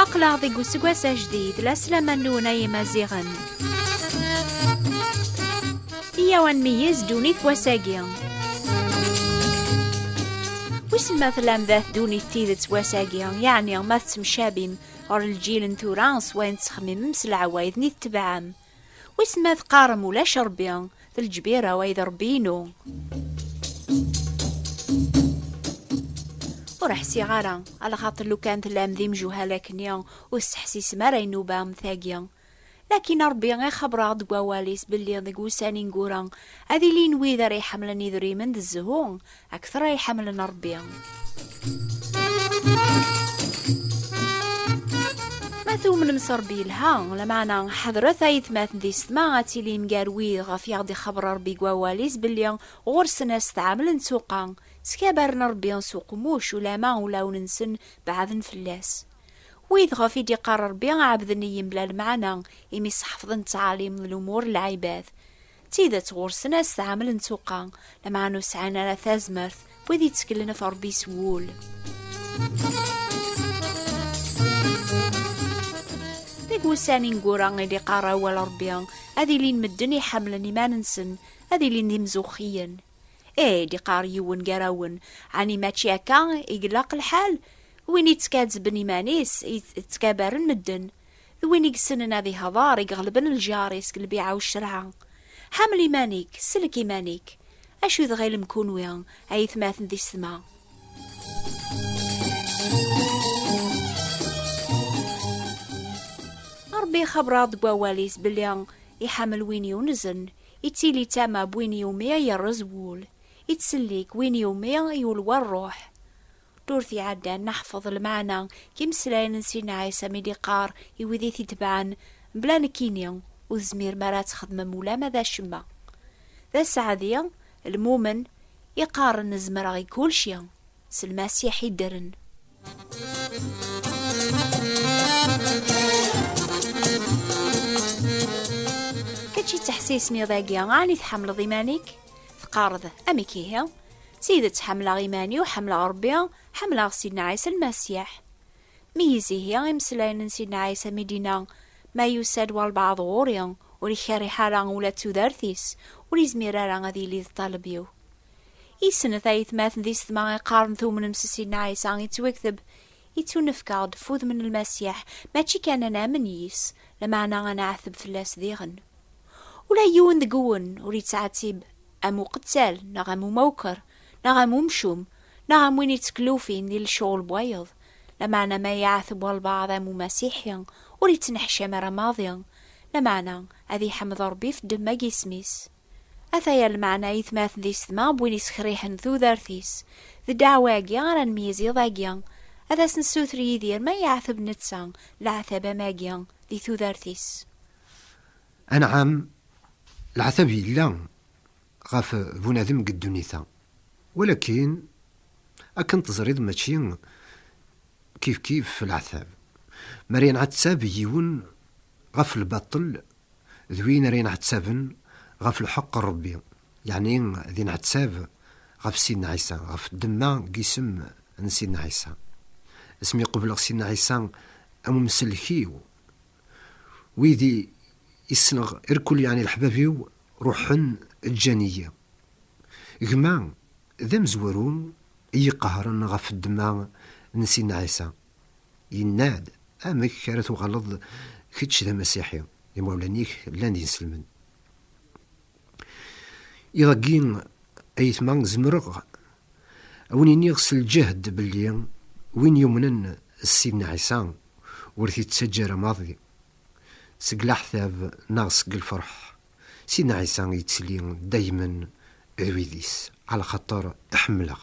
aqlaɣ deg useggas ajdid la slaman-nwen ay imaziɣen iyaw ad nmeyyez ddunit wass-agi wissen ma tlam da ddunit tidet wass-agi yeɛni ma tettemcabim ɣer lǧil n tura s wayen tettxemmimem s leɛwayed-nni tetebɛem. Wis ma teqqarem ulac Rebbi, d lǧbir away d Rebbi-inu. Ur ḥsiɣ ara, ala xaṭi lukan tellam d imjuhal akkenni, ur tesseḥsisem ara inuba am tagi. Lakin Ṛebbi ixebber-aɣ-d deg Wawal-is belli deg wussan ineggura ad ilin wid ara iḥemmlen idrimen d zzhu akteṛ ay ḥemmlen Ṛebbi. Ma tumnem s Ṛebbi yelha, lameɛna ḥedṛet ay atmaten di setma ad tilim gar wid ɣef i aɣ-d-ixebber Ṛebbi deg Wawal-is belli ɣur-sen asetɛamel n tsuqqa, ttkabaren Ṛebbi s uqemmuc ulamma ulawen-nsen beɛden fell-as. Wid ɣef i d-iqqar Ṛebbi, ɛebden-iyi mebla lemɛana, imi sḥefḍen ttɛalim d lumuṛ n lɛibad. D tidet, ɣur-sen asetɛamel n tuqqa, lameɛna ur sɛin ara tazmert, wid yetteklen ɣef Ṛebbi s wul. Deg wussan ineggura i d-iqqar awal Ṛebbi, ad ilin medden iḥemmlen iman-nsen, ad ilin d imzuxxiyen. Ih, i d-iqqar yiwen gar-awen, ɛni mačči akka i ilaq lḥal? Win yettkazzben iman-is, yettkabaren medden, d win i yessnen ad ihder, i iɣelben lǧar-is deg lbiɛa u ccerɛa. Ḥamel iman-ik, sellek iman-ik. Acu i tɣilem kunwi, a yetmaten d isetma? Rebbi ixebber-aɣ-d deg wawal-is belli iḥamel win yunzen. Ittili d tama n win iwumi ay yerreẓ wul, ittsellik win iwumi ay yulwa ṛṛuḥ. Ddurt iɛeddan neḥfeḍ lmeɛna n yimeslayen n Sidna Ɛisa mi d-iqqar i wid i t-itebɛen, Mebla nekkini, ur tezmirem ara ad txedmem ulamma d acemma. D aseɛdi, lmumen, iqqaren zemreɣ i kulci. s lmasiḥ i ddren. Kečč yettḥessisniḍ agi, ɛni tḥemmleḍ iman-ik? Teqqareḍ, amek ihi? D tidet ḥemmleɣ iman-iw, ḥemmleɣ Rebbi, ḥemmleɣ Sidna Ɛisa Lmasiḥ. Meyyez ihi imeslayen n Sidna Ɛisa mi d-inna, ma yusa-d walbaɛḍ ɣur-i, ur ikerriḥ ara ula d tudert-is, ur izmir ara ad yili d ṭṭaleb-iw. Isnet ayetmaten d isetma i qqaren tumnem s Sidna Ɛisa ittwakteb, ittunefk-aɣ-d ɣef wudem n Lmasiḥ, mačči kan ad namen yis, lameɛna ad nɛeteb fell-as diɣen. Ula yiwen deg-wen ur yettɛettib am uqettal neɣ am umawker neɣ am umcum neɣ am win yetteklufin di lecɣel n wayeḍ, lameɛna ma iɛeteb walbaɛḍ am umasiḥi ur yettneḥcam ara maḍi, lameɛna ad iḥmed Ṛebbi ɣef ddemma n yisem-is. Ataya lmeɛna itmaten d isetma n win yessekriḥen tudert-is. D ddeɛwa-agi ara nmeyyez iḍ-agi. Ad as-nessuter Yidir ma yeɛteb netta leɛtab am agi di tudert-is. Anɛam, leɛtab yella ɣef bunadem deg ddunit-a, walakin akken teẓriḍ mačči kifkif leɛtab. Mer yenɛettab yiwen ɣef lbaṭel d win ara yenɛettaben ɣef lḥeqq n Ṛebbi, yeɛni ad yenɛettab ɣef Sidna Ɛisa, ɣef ddemma n yisem n Sidna Ɛisa. Asmi qebleɣ Sidna Ɛisa am umsellek-iw, wid i ssneɣ irkul, yeɛni leḥbab-iw, ruḥen ǧǧan-iyi. Gma d amezwaru i iqehren ɣef ddemma n Sidna Ɛisa. Yenna-d, Amek ara tuɣaleḍ kečč d amasiḥi, imawlan-ik llan d ineslmen? Iḍ-agi, a yetma, zemreɣ a wen-iniɣ s lǧehd belli win yumnen s Sidna Ɛisa ur t-ittaǧǧa ara maḍi seg leɛtab neɣ seg lferḥ. Sidna Ɛisa yettili daymen d wid-is, ɛlaxaṭer iḥemmel-aɣ.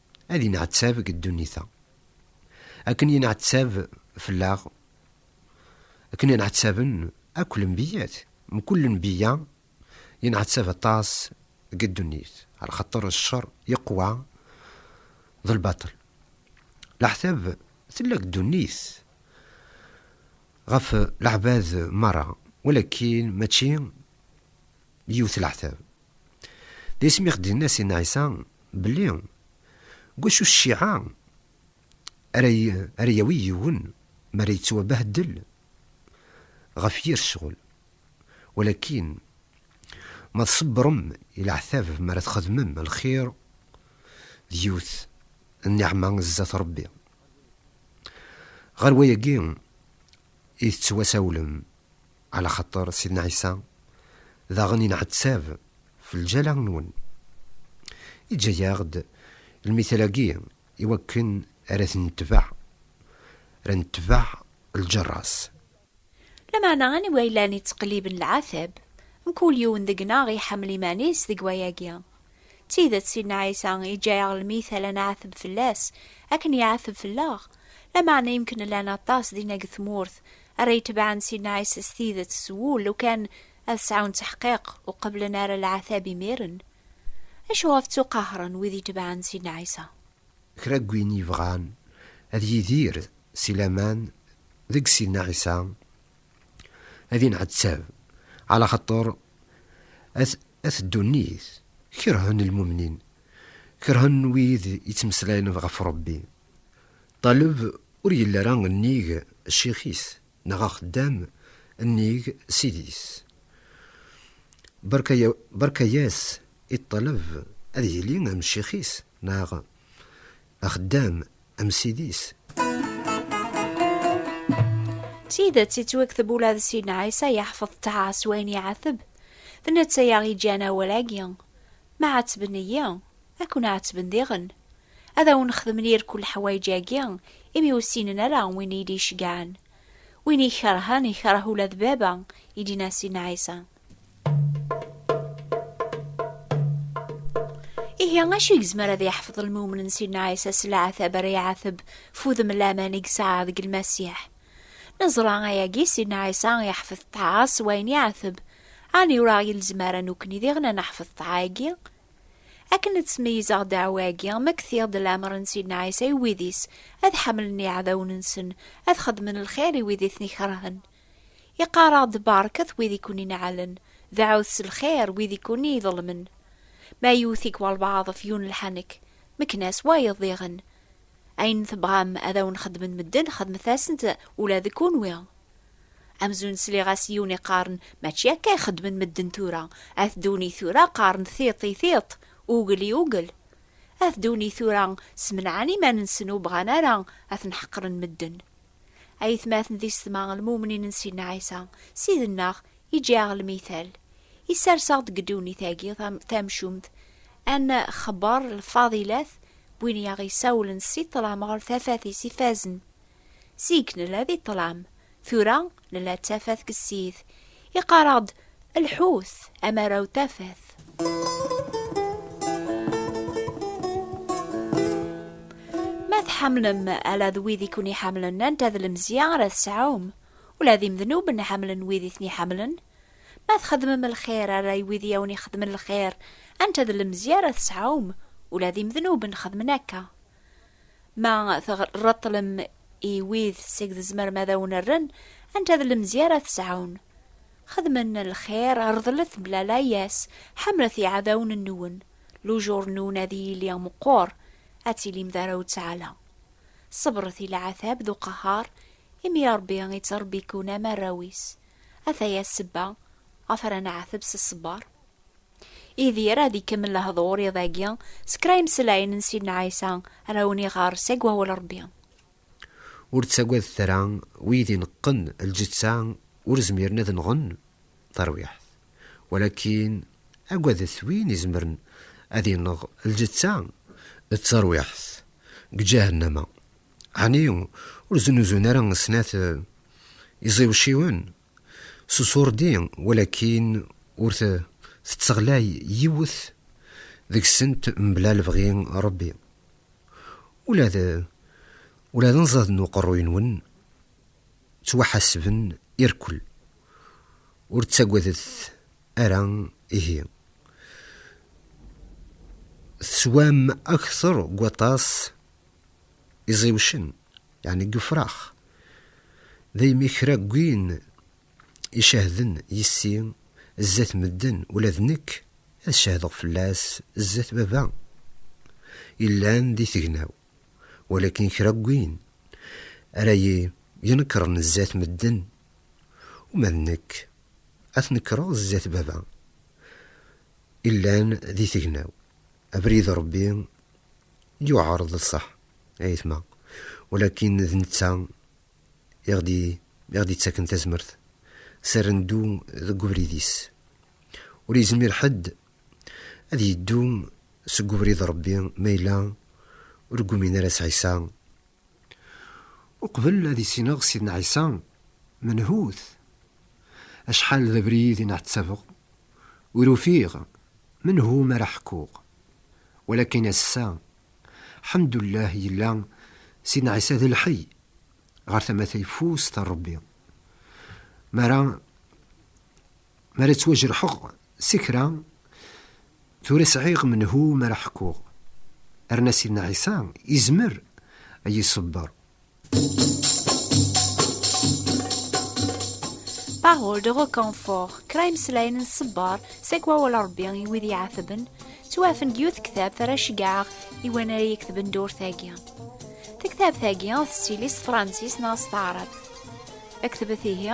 ad inɛettab deg ddunit-a. Akken yenɛettab fell-aɣ, akken i nɛettaben akk lenbiyyat, mkul lenbiyya yenɛettab aṭas deg ddunit, ɣer xaṭer cceṛ yeqwa d lbaṭel. Leɛtab tella deg ddunit ɣef leɛbad meṛṛa, walakin mačči yiwet leɛtab. D isem i ɣ-d-yenna Sidna Ɛisa belli deg wacu cciɛa ara yawi yiwen mi ara yettwabehdel ɣef yir ccɣel, walakin ma tṣebbrem i leɛtab mi ara txedmem lxir d yiwet n nniɛma zdat Rebbi. Ɣer wayagi i tettwasawlem Ala xaṭer Sidna Ɛisa daɣen inɛettab f lǧala-nwen. Iǧǧa-yaɣ-d lmithal-agi i wakken ara t-netbeɛ, ara netbeɛ lǧerra-s. Lameɛna aniwa yellan ittqelliben lɛatab? Mkul yiwen deg-neɣ iḥemmel iman-is deg wayagi. D tidet, Sidna Ɛisa iǧǧa-yaɣ lmithal ad nɛettab fell-as akken iɛettab fell-aɣ, lameɛna yemken llan aṭas dinna deg tmurt ara yetebɛen si nneɛis s tidet s wul lukan ad sɛun taḥqiq ur qeblen ara leɛtab imiren? Acu ɣef ttuqahren wid yetebɛen si nneɛis-a? Kra n win yebɣan ad yidir si laman deg si nneɛis-a ad inɛettab ɛla xaṭer at ddunit kerhen lmumnin, kerhen wid yettmeslayen ɣef Rebbi. Ṭaleb ur yelli ara nnig ccix-is, neɣ axeddam nnig ssid-is. Berka-yas i ṭṭaleb ad yili am ccix-is, neɣ axeddam am ssid-is. D tidet yettwakteb ula d Sidna Ɛisa yeḥfeḍ ṭṭaɛa s wayen iɛeteb. D netta i aɣ-yeǧǧan awal-agi, Mɛetben-iyi. Ad ken-ɛettben diɣen. Ad awen-xedmen irku leḥwayeǧ-agi, imi ur ssinen ara win i yi-d-iceggɛen. Win i ikerhen, ikerh ula d baba, i d-yenna Sidna Ɛisa. Ihi, acu i yezmer ad yeḥfeḍ lmumen n Sidna Ɛisa s leɛtab ara iɛateb f udem n laman i yesɛa deg Lmasiḥ? Neẓra ayagi, Sidna Ɛisa iḥfeḍ ṭṭɛa s wayen iɛateb. Ɛni ur aɣ-yelzem ara nukni diɣen ad neḥfeḍ ṭṭɛa-agi? Akken ad ttmeyyizeɣ ddeɛwa-agi, ma ktiɣ-d leɛmer n Sidna Ɛisa i wid-is, ad ḥemmlen iɛdawen-nsen, ad xedmen lxir i wid i ten-ikerhen. I qqareɣ-d barket wid i ken-ineɛɛlen, deɛɛut s lxir wid i ken-iḍelmen. Ma yewwet-ik walbaɛḍ ɣef yiwen lḥanek, mekken-as wayeḍ diɣen. Ayen tebɣam ad awen-xedmen medden, xedmet-asen-t ula d kunwi. Amzun sliɣ-as yiwen iqqaren, Mačči akka i xeddmen medden tura, at ddunit tura qqaren tiṭ i tiṭ, ugel i ugel. At ddunit tura smenɛen iman-nsen ur bɣan ara ad ten-ḥeqren medden. Ayetmaten d isetma, lmumnin n Sidna Ɛisa, Ssid-nneɣ, iǧǧa-aɣ lmital, isers-aɣ-d deg ddunit-agi tamcumt, ad nxebber lfadilat n win i aɣ-isawlen si ṭṭlam ɣer tafat-is ifazen, Zik nella di ṭṭlam, tura nella d tafat deg ssid. Iqqar-aɣ-d, Lḥut, amaraw tafat. Ma tḥemmlem ala d wid i ken-iḥemmlen anta d lemzya ara tesɛum? Ula d imednuben ḥemmlen wid i ten-iḥemmlen. Ma txedmem lxir ala i wid i awen-ixedmen lxir anta d lemzya ara tesɛum? Ula d imednuben xedmen akka. Ma tɣerreṭlem i wid seg tzemrem ad awen-rren, anta d lemzi ara tesɛun? Xedmen lxir, rḍlet mebla layas, ḥemmlet iɛdawen-nwen, lujur-nwen ad yili meqqur, ad tilim d arraw n Ttaɛla. Ṣebret i leɛtab d uqehhar, imi Ṛebbi ittṛebbi-ken am arraw-is. Ataya ssebba ɣef ara neɛteb s ṣṣber. Idir ad ikemmel lehdur iḍ-agi s kra imesllayen n Sidna Ɛisa ara wen-iɣer seg wawal Rebbi. Ur ttagadet ara, wid ineqqen lǧeţţa ur zmiren ad nɣen tarwiḥt, walakin agadet win izemren ad ineɣ lǧeţţa d tarwiḥt deg ǧahennama, ɛni ur znuzun ara snat iẓiwciwen S usurdi, walakin ur tetteɣlay yiwet deg-sent mebla lebɣi n Ṛebbi. Ula d ula d anẓad n uqerruy-nwen ttwaḥasben irekkel. Ur ttagadet ara ihi. Teswam akteṛ n waṭas. iẓiwcen, yeɛni deg ufrax, daymi kra n win icehden yis-i zdat medden, ula d nekk ad cehdeɣ fell-as zdat Baba yellan di tegnaw, walakin kra n win ara yi-inekṛen zdat medden, uma d nekk ad t-nekṛeɣ zdat Baba yellan di tegnaw. Abrid Ṛebbi yuɛreḍ ṣṣeḥ a yetma, walakin d netta i ɣ-d-yettaken tazmert s ar neddu deg ubrid-is. Ur yezmir ḥedd ad yeddu seg ubrid Ṛebbi ma yella ur ggumin ara s Ɛisa Uqbel ad issineɣ Sidna Ɛisa, menhut. Acḥal d abrid i nɛettabeɣ, ur ufiɣ menhu m'ara ḥkuɣ. Walakin ass-a, ḥemdullah yella Sidna Ɛisa d lḥey, ɣer tama tayeffust n Rebbi. M'ara. Mi ara ttwajreḥeɣ si kra, tura sɛiɣ menhu mi ara ḥkuɣ, rna Sidna Ɛisa izmer a yi-iṣebber. Parole de reconfort, kra imeslayen n ṣṣebber seg wawal n Rebbi i wid iɛetben, ttwaɛfen deg yiwet tektabt ara ceggɛeɣ i wan ara yektben ddurt-agi. Tektabt-agi ad tettili s tefransist neɣ s taɛrabt. Ktbet ihi,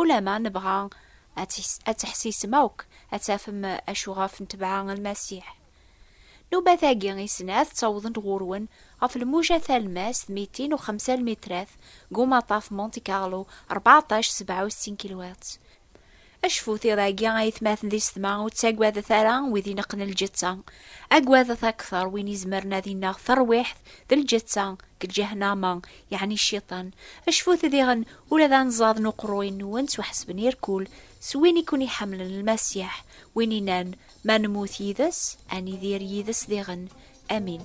Ulamma nebɣa ad teḥsisem akk, ad tafem acu ɣef ntebɛa n Lmasiḥ. Nubat-agi i snat ttawḍen-d ɣur-wen ɣef lmuja talemmast mitin u xemsa lmitrat deg umaṭṭaf Monte Carlo rbeɛṭac sebɛa u settin kilwert. Acfut iḍ-agi, a itmaten di setma, ur ttagadet ara wid ineqqen lǧetta, agadet akteṛ win izemren ad ineɣ tarwiḥt d lǧetta. deg ǧahennama, yeɛni cciṭan, acfut diɣen ula d anẓad n uqerruy-nwen ttwaḥesben irkul s win i ken-iḥemmlen Lmasiḥ, win inan, Ma nemmut yid-s, ad nidir yid-s diɣen. Amin.